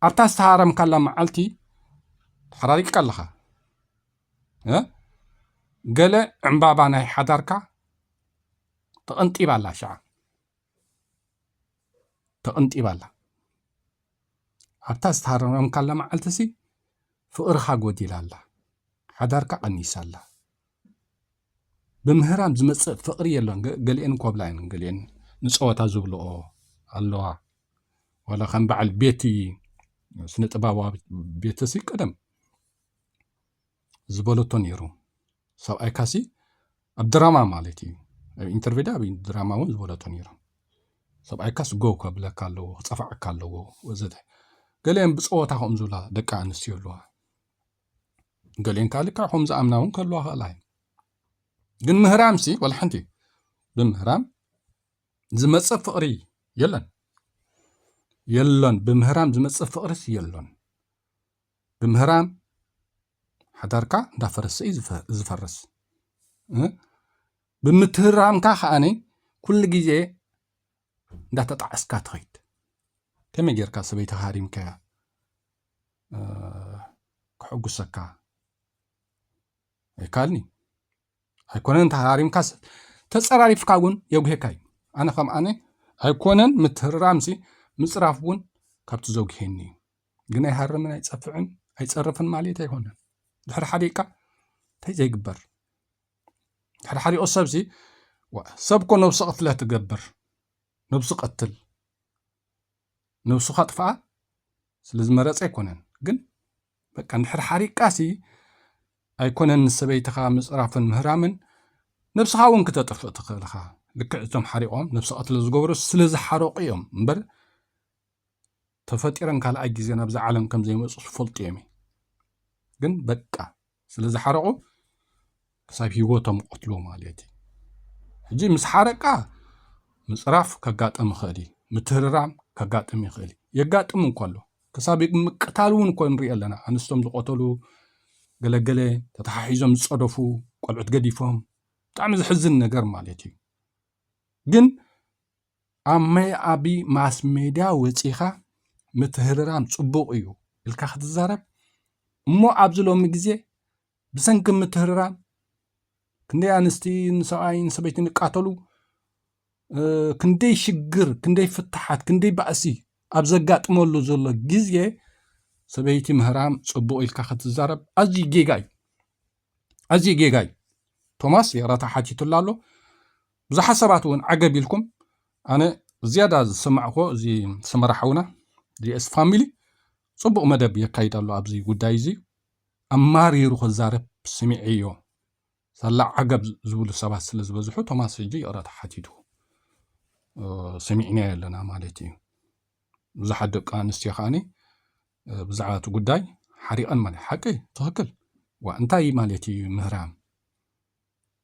B: ኣብታ ዝተሃረምካላ መዓልቲ ተሓራሪቅካ ኣለኻ። ገለ ዕምባባ ናይ ሓዳርካ ተቐንጢባ ኣላ ሸዓ ተቐንጢባ ኣላ ኣብታ ዝተሃረምካላ መዓልቲ ሲ ፍቕርኻ ጎዲላ ኣላ ሓዳርካ ቀኒሳ ኣላ ብምህራም ዝመፅእ ፍቕሪ የሎን ገሊአን ኮብላ እየን ገሊአን ንፀወታ ዝብልኦ ኣለዋ ዋላ ከም በዓል ቤቲ ስነ ጥበባዊ ቤተሲ ቀደም ዝበለቶ ነይሩ ሰብኣይካሲ ኣብ ድራማ ማለት እዩ ኣብ ኢንተርቪዳ ኣብ ድራማ እውን ዝበለቶ ነይሩ ሰብኣይካስ ጎው ከብለካ ኣለዎ ክፀፋዓካ ኣለዎ ወዘተ ገሊአን ብፀወታ ከምኡ ዝብላ ደቂ ኣንስትዮ ኣለዋ ገሊአን ከዓ ልክዕ ከም ዝኣምና እውን ከለዋ ክእላ እዩ ግን ምህራም ሲ ወላ ሓንቲ ብምህራም ዝመፅእ ፍቕሪ የለን የለን ብምህራም ዝመፅእ ፍቕሪስ የለን ብምህራም ሓዳርካ እንዳፈረሰ እዩ ዝፈርስ ብምትህራምካ ከዓኒ ኩሉ ግዜ እንዳተጣዕስካ ትኸይድ ከመይ ጌርካ ሰበይቲ ሃሪምካያ ክሕጉሰካ ኣይካልኒ ኣይኮነን ተሃሪምካ ተፀራሪፍካ እውን የጉሄካ እዩ ኣነ ከም ኣነ ኣይኮነን ምትህራምሲ ምፅራፍ እውን ካብቲ ዘጉሄኒ እዩ ግን ኣይሃርምን ኣይፀፍዕን ኣይፀርፍን ማለት ኣይኮነን ድሕሪ ሓዲእካ እንታይ ዘይግበር ድሕሪ ሓዲኦ ሰብሲ ሰብ እኮ ነብሲ ቅትለ ትገብር ነብሱ ቀትል ነብሱ ካጥፍኣ ስለዝመረፀ ኣይኮነን ግን በቃ ንድሕሪ ሓሪቃሲ ኣይኮነን ንሰበይትኻ ምፅራፍን ምህራምን ነብስኻ እውን ክተጥፍእ ትኽእል ኢኻ ልክዕ እቶም ሓሪቖም ነብሲ ቀትለ ዝገብሩ ስለዝሓረቑ እዮም እምበር ተፈጢረን ካልኣይ ግዜ ናብዛ ዓለም ከም ዘይመጹ ዝፈልጡ እዮም እዩ ግን በቃ ስለ ዝሓረቑ ክሳብ ሂወቶም ይቐትልዎ ማለት እዩ ሕጂ ምስ ሓረቃ ምፅራፍ ከጋጥም ይኽእል እዩ ምትህርራም ከጋጥም ይኽእል እዩ የጋጥም እንኮ ኣሎ ክሳብ ምቅታል እውን እኮ ንሪኦ ኣለና ኣንስቶም ዝቆተሉ ገለገለ ተተሓሒዞም ዝፀደፉ ቆልዑት ገዲፎም ብጣዕሚ ዝሕዝን ነገር ማለት እዩ ግን ኣሜ ኣቢ ማስ ሜድያ ወጺኻ ምትህርራም ጽቡቕ እዩ ኢልካ ክትዛረብ እሞ ኣብዚ ሎሚ ግዜ ብሰንኪ ምትህርራም ክንደይ ኣንስቲ ንሰብኣይ ንሰበይቲ ንቃተሉ ክንደይ ሽግር ክንደይ ፍትሓት ክንደይ ባእሲ ኣብ ዘጋጥመሉ ዘሎ ግዜ ሰበይቲ ምህራም ጽቡቕ ኢልካ ክትዛረብ ኣዝዩ ጌጋ እዩ ኣዝዩ ጌጋ እዩ ቶማስ የራታ ሓቲቱላ ኣሎ ብዙሓት ሰባት እውን ዓገብ ኢልኩም ኣነ ዝያዳ ዝሰማዕክዎ እዚ ሰመራ ሓውና ዲኤስ ፋሚሊ ጽቡቕ መደብ የካይድ ኣሎ ኣብዚ ጉዳይ እዚ ኣማሪሩ ክዛረብ ስሚዐዮ ሳላ ዓገብ ዝብሉ ሰባት ስለ ዝበዝሑ ቶማስ ሕጂ ይቕረታ ሓቲቱ ሰሚዕናዮ ኣለና ማለት እዩ ብዙሓት ደቂ ኣንስትዮ ከዓኒ ብዛዕባ እቲ ጉዳይ ሓሪቐን ማለት ሓቂ ትኽክል ዋ እንታይ ማለት እዩ ምህራም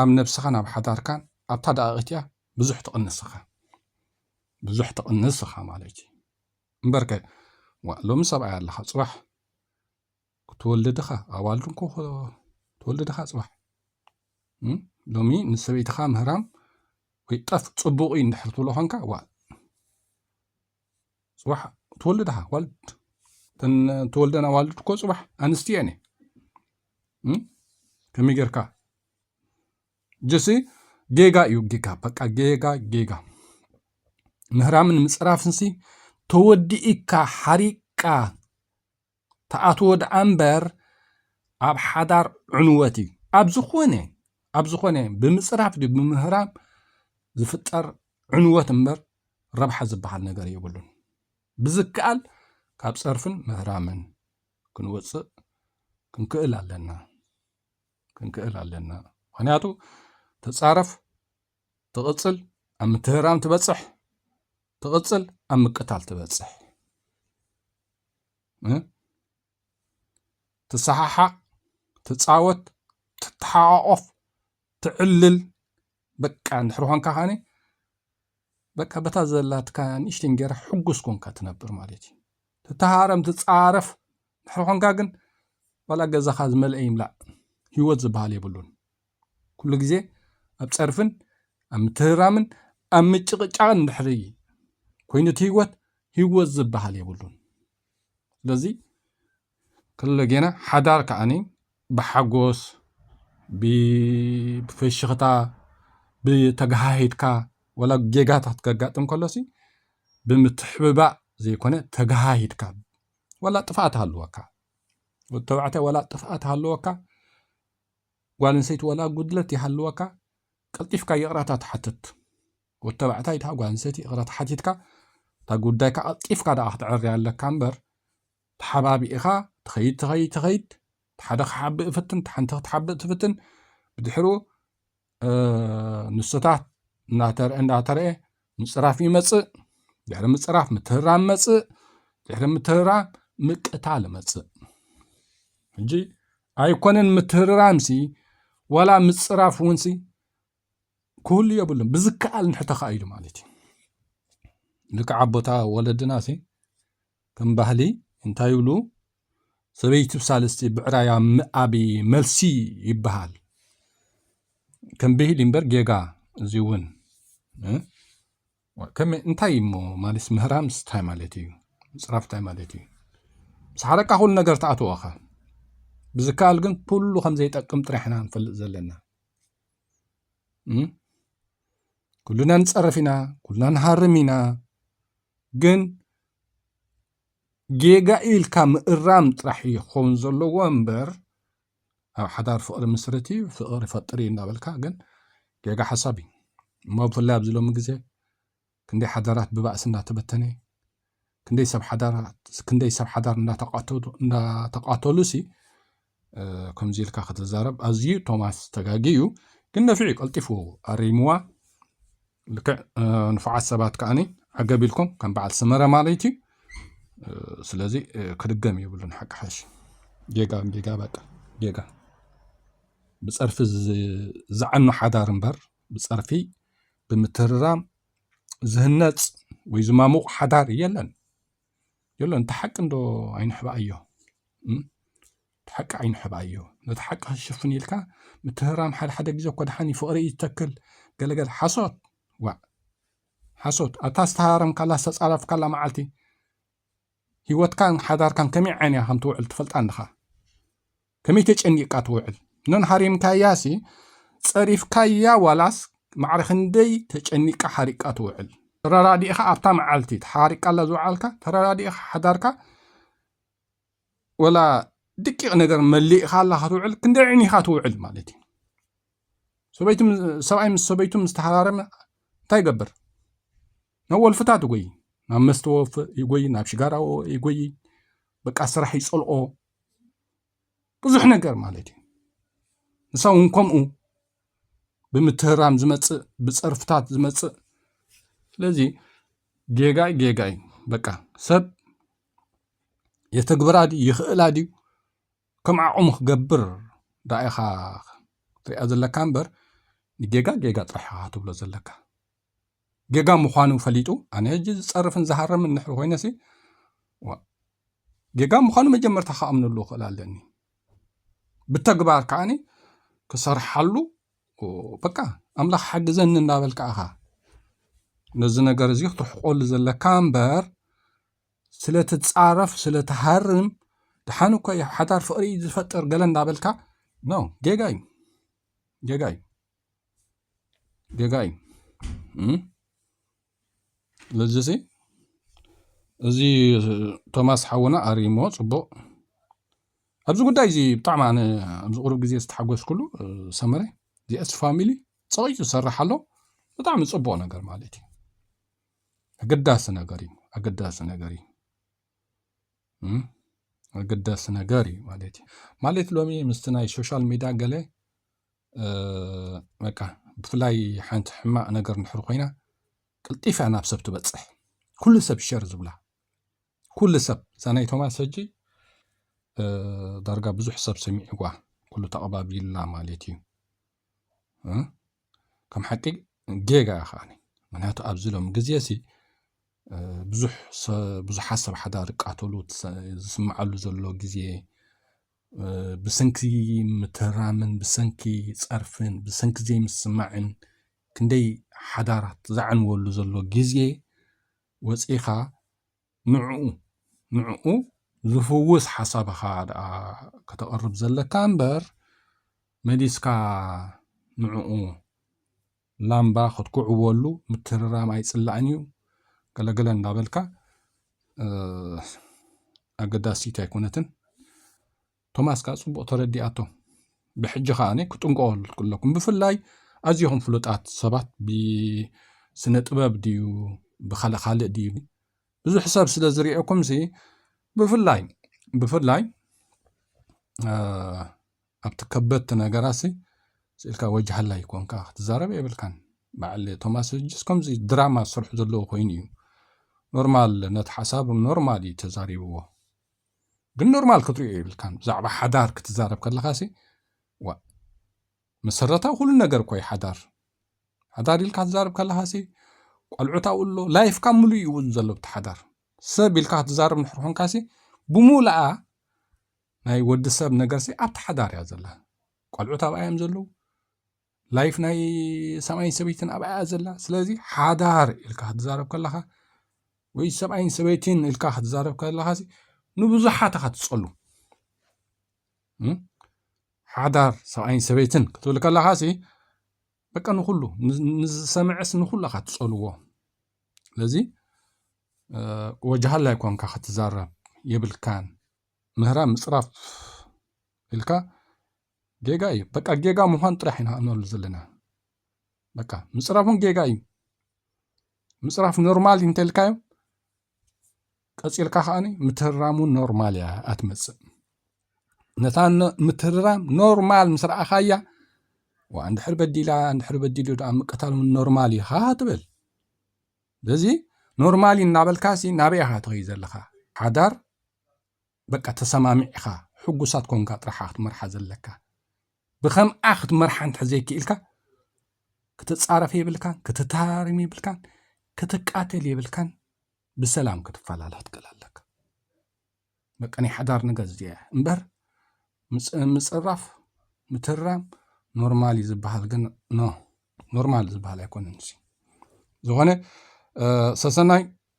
B: ኣብ ነብስኻን ኣብ ሓዳርካን ኣብታ ደቓቕ እቲኣ ብዙሕ ትቕንስ እኻ ብዙሕ ትቕንስ እኻ ማለት እዩ እምበርከ ዋእ ሎሚ ሰብኣይ ኣለኻ ጽባሕ ክትወልድ እኻ ኣባል ድንኮ ትወልድ እኻ ጽባሕ ሎሚ ንሰበይትኻ ምህራም ወይ ጠፍ ጽቡቕ እዩ እንድሕር ትብሎ ኾንካ ዋ ፅባሕ ትወልድ ኻ ዋልድ እተን ተወልደን ኣዋልድ እኮ ፅባሕ ኣንስቲ እየን ከመይ ጌርካ ጀሲ ጌጋ እዩ ጌጋ በቃ ጌጋ ጌጋ ምህራምን ምፅራፍንሲ ተወዲእካ ሓሪቅካ ትኣትዎ ደኣ እምበር ኣብ ሓዳር ዕንወት እዩ። ኣብ ዝኾነ ኣብ ዝኾነ ብምፅራፍ ድዩ ብምህራም ዝፍጠር ዕንወት እምበር ረብሓ ዝበሃል ነገር የብሉን። ብዝከኣል ካብ ፀርፍን ምህራምን ክንወፅእ ክንክእል ኣለና ክንክእል ኣለና ምክንያቱ ተፃረፍ ትቕጽል ኣብ ምትህራም ትበጽሕ ትቕጽል ኣብ ምቅታል ትበጽሕ ትሰሓሓቕ ትፃወት ትተሓቋቆፍ ትዕልል በቃ እንድሕር ኮንካ ከዓኒ በቃ በታ ዘላትካ ንእሽተ እንጌራ ሕጉስ ኮንካ ትነብር ማለት እዩ ትተሃረም ትፃረፍ እንድሕር ኮንካ ግን ዋላ ገዛኻ ዝመልአ ይምላእ ህይወት ዝበሃል የብሉን ኩሉ ግዜ ኣብ ጸርፍን ኣብ ምትህርራምን ኣብ ምጭቕጫቕን እንድሕሪ ኮይኑ እቲ ህይወት ህይወት ዝበሃል የብሉን ስለዚ ከሎ ጌና ሓዳር ከዓኒ ብሓጎስ ብፈሽኽታ ብተጋሃሂድካ ወላ ጌጋታት ከጋጥም ከሎሲ ብምትሕብባእ ዘይኮነ ተጋሃሂድካ ወላ ጥፍኣት ሃለወካ ወዲ ተባዕታይ ወላ ጥፍኣት ሃለወካ ጓለንሰይቲ ዋላ ጉድለት ይሃልወካ ቀልጢፍካ ይቕረታ ትሓትት ወድተባዕታይ እታ ጓለንሰይቲ ይቕረታ ሓቲትካ እታ ጉዳይካ ቀልጢፍካ ደኣ ክትዕርያ ኣለካ እምበር ተሓባቢእኻ ትኸይድ ትኸይድ ትኸይድ ሓደ ክሓብእ እፍትን ሓንቲ ክትሓብእ ትፍትን ብድሕሩ ንስታት እንዳተርአ እንዳተርአ ምፅራፍ ይመፅእ ድሕሪ ምፅራፍ ምትህራም መፅእ ድሕሪ ምትህራም ምቅታል መፅእ ሕጂ ኣይኮነን ምትህርራምሲ ዋላ ምፅራፍ እውንሲ ክህሉ የብሉን ብዝከኣል ንሕተኻ ኢሉ ማለት እዩ ልክዓ ቦታ ወለድናሲ ከም ባህሊ እንታይ ይብሉ ሰበይቲ ብሳልስቲ ብዕራያ ምኣቢ መልሲ ይበሃል ከም ብሂል እምበር ጌጋ እዚ እውን ከመይ እንታይ እሞ ማለት ምህራም ስታይ ማለት እዩ ምፅራፍ እንታይ ማለት እዩ ምስ ሓረካ ኩሉ ነገር ተኣትወኻ ብዝከኣል ግን ኩሉ ከም ዘይጠቅም ጥራሕ ኢና ንፈልጥ ዘለና ኩሉና ንፀርፍ ኢና ኩሉና ንሃርም ኢና ግን ጌጋ ኢልካ ምእራም ጥራሕ እዩ ክኸውን ዘለዎ እምበር ኣብ ሓዳር ፍቕሪ ምስርት እዩ ፍቕሪ ፈጥር እዩ እናበልካ ግን ጌጋ ሓሳብ እዩ እሞ ብፍላይ ኣብዚ ሎሚ ግዜ ክንደይ ሓዳራት ብባእሲ እናተበተነ ክንደይ ሰብ ሓዳራት ክንደይ ሰብ ሓዳር እናተቃተሉ ሲ ከምዚ ኢልካ ክትዛረብ ኣዝዩ ቶማስ ተጋጊዩ ግን ነፊዑ ቀልጢፉ ኣሪምዋ ልክዕ ንፉዓት ሰባት ከዓኒ ዓገብ ኢልኩም ከም በዓል ስመረ ማለት እዩ ስለዚ ክድገም የብሉን ሓቂ ሓሽ ጌጋ ጌጋ በቃ ጌጋ ብፀርፊ ዝዓኑ ሓዳር እምበር ብፀርፊ ብምትርራም ዝህነፅ ወይ ዝማሙቕ ሓዳር የለን የሎ እንተ ሓቂ እንዶ ኣይንሕባኣዮ እቲ ሓቂ ኣይንሕባኣዮ ነቲ ሓቂ ክሽፍን ኢልካ ምትህራም ሓደ ሓደ ግዜ እኮ ድሓኒ ፍቕሪ እዩ ዝተክል ገለገለ ሓሶት ዋዕ ሓሶት ኣታ ዝተሃረምካላ ዝተፃረፍካላ መዓልቲ ሂወትካን ሓዳርካን ከመይ ዓይንያ ከም ትውዕል ትፈልጣ ኣለኻ ከመይ ተጨኒቅካ ትውዕል ኖን ሃሪምካያሲ ጸሪፍካያ ዋላስ ማዕረ ክንደይ ተጨኒቃ ሓሪቃ ትውዕል ተረዳዲእኻ ኣብታ መዓልቲ ተሓሪቃላ ዝውዓልካ ተረዳዲእኻ ሓዳርካ ወላ ድቂቕ ነገር መሊእኻላ ክትውዕል ክንደይ ዕኒኻ ትውዕል ማለት እዩ ሰበይቱ ሰብኣይ ምስ ሰበይቱ ምስ ተሃራረመ እንታይ ይገብር ናብ ወልፍታት ይጎይ ናብ መስተወፍ ይጎይ ናብ ሽጋራ ይጎይ በቃ ስራሕ ይፀልኦ ብዙሕ ነገር ማለት እዩ ንሶም እውን ከምኡ ብምትህርራም ዝመፅእ ብፀርፍታት ዝመፅእ ስለዚ ጌጋ እዩ ጌጋ እዩ በቃ ሰብ የተግብራ ድዩ ይኽእላ ድዩ ከም ዓቕሙ ክገብር ዳኣ ኢኻ ክትሪኣ ዘለካ እምበር ንጌጋ ጌጋ ጥራሕ ኢኻ ክትብሎ ዘለካ። ጌጋ ምዃኑ ፈሊጡ ኣነ ሕጂ ዝጸርፍን ዝሃረምን እንድሕር ኮይነሲ ዋእ ጌጋ ምዃኑ መጀመርታ ክኣምነሉ ክእል ኣለኒ ብተግባር ከዓኒ ክሰርሓሉ በቃ ኣምላኽ ሓግዘኒ እንዳበልካ ኢኻ ነዚ ነገር እዚ ክትርሕቆሉ ዘለካ እምበር ስለ ትጻረፍ ስለ ትሃርም ድሓን እኮ እዩ ሓዳር ፍቕሪ እዩ ዝፈጥር ገለ እንዳበልካ ኖ ጌጋ እዩ ጌጋ እዩ ጌጋ እዩ ስለዚ ሲ እዚ ቶማስ ሓውና ኣርሞ ፅቡቅ ኣብዚ ጉዳይ እዚ ብጣዕሚ ኣነ ኣብዚ ቅሩብ ግዜ ዝተሓጎስኩሉ ሰመረ ጂኤስ ፋሚሊ ፀቂጡ ዝሰርሕ ኣሎ ብጣዕሚ ፅቡቅ ነገር ማለት እዩ ኣገዳሲ ነገር እዩ ኣገዳሲ ነገር እዩ ኣገዳሲ ነገር እዩ ማለት እዩ ማለት ሎሚ ምስቲ ናይ ሶሻል ሚድያ ገለ በቃ ብፍላይ ሓንቲ ሕማቕ ነገር እንድሕር ኮይና ቅልጢፍ እያ ናብ ሰብ ትበፅሕ ኩሉ ሰብ ሸር ዝብላ ኩሉ ሰብ እዛ ናይ ቶማስ ሕጂ ዳርጋ ብዙሕ ሰብ ሰሚዕዋ ኩሉ ተቐባቢላ ማለት እዩ ከም ሓቂ ጌጋ እያ ከዓኒ ምክንያቱ ኣብዚ ሎም ግዜ እዚ ብዙሕ ብዙሓት ሰብ ሓዳር ይቃተሉ ዝስምዓሉ ዘሎ ግዜ ብሰንኪ ምትህራምን ብሰንኪ ጸርፍን ብሰንኪ ዘይምስማዕን ክንደይ ሓዳራት ዘዕንወሉ ዘሎ ግዜ ወፂኻ ንዕኡ ንዕኡ ዝፍውስ ሓሳብ ኢኻ ደኣ ከተቕርብ ዘለካ እምበር መሊስካ ንዕኡ ላምባ ክትኩዕዎሉ ምትርራም ኣይጽላእን እዩ ገለገለ እንዳበልካ ኣገዳሲት ኣይኮነትን ቶማስ ከኣ ጽቡቕ ተረዲኣቶ ብሕጂ ከኣ ኣነ ክጥንቀቑ ኣለኩም ብፍላይ ኣዝኹም ፍሉጣት ሰባት ብስነ ጥበብ ድዩ ብካልእ ካልእ ድዩ ብዙሕ ሰብ ስለ ዝርኤኩም ሲ ብፍላይ ብፍላይ ኣብቲ ከበድቲ ነገራትሲ ስእልካ ወጅ ሃላይ ኮንካ ክትዛረብ የብልካን በዓል ቶማስ ህጅስ ከምዚ ድራማ ዝሰርሑ ዘለዎ ኮይኑ እዩ ኖርማል ነቲ ሓሳብ ኖርማል እዩ ተዛሪብዎ ግን ኖርማል ክትሪኦ የብልካን ብዛዕባ ሓዳር ክትዛረብ ከለካሲ ዋ መሰረታዊ ኩሉ ነገር እኮ እዩ ሓዳር ሓዳር ኢልካ ትዛረብ ከለካሲ ቆልዑት ኣብኡ ኣሎ ላይፍካ ምሉእ እዩ እውን ዘሎ ብቲ ሓዳር ሰብ ኢልካ ክትዛረብ ንሕር ኮንካሲ ብምሉኣ ናይ ወዲ ሰብ ነገርሲ ኣብቲ ሓዳር እያ ዘላ ቆልዑት ኣብኣ እዮም ዘለዉ ላይፍ ናይ ሰብኣይን ሰበይትን ኣብኣ እያ ዘላ ስለዚ ሓዳር ኢልካ ክትዛረብ ከለኻ ወይ ሰብኣይን ሰበይትን ኢልካ ክትዛረብ ከለኻ ንብዙሓት ኢኻ ትፀሉ ሓዳር ሰብኣይን ሰበይትን ክትብል ከለኻ ሲ በቃ ንኩሉ ንዝሰምዐስ ንኩሉ ኢኻ ትፀልዎ ስለዚ ወጃሃላይ ኮንካ ክትዛረብ የብልካን ምህራ ምጽራፍ ኢልካ ጌጋ እዩ በቃ ጌጋ ምዃን ጥራሕ ኢና እንብሉ ዘለና በቃ ምጽራፉን ጌጋ እዩ ምጽራፍ ኖርማል እዩ እንተልካዮም ቀፂልካ ከዓ ምትህራሙ ኖርማል እያ ኣትመፅእ ነታ ምትህርራም ኖርማል ምስ ረኣኻያ ዋ እንድሕር በዲላ እንድሕር በዲሉ ደኣ ምቅታል እውን ኖርማል እዩ ካ ትብል ስለዚ ኖርማል እዩ እናበልካሲ ናበይ ኢኻ ትኸይ ዘለኻ ሓዳር በቃ ተሰማሚዕኻ ሕጉሳት ኮንካ ጥራሕ ኢኻ ክትመርሓ ዘለካ ብከምኣ ክትመርሓ እንተ ዘይክኢልካ ክትፃረፍ የብልካን ክትተሃራርም የብልካን ክትቃተል የብልካን ብሰላም ክትፈላለ ክትክእል ኣለካ በቃ ናይ ሓዳር ነገር እዚኣ እምበር ምፅራፍ ምትራም ኖርማል እዩ ዝበሃል ግን ኖ ኖርማል ዝበሃል ኣይኮነን እዚ ዝኾነ ሰሰናይ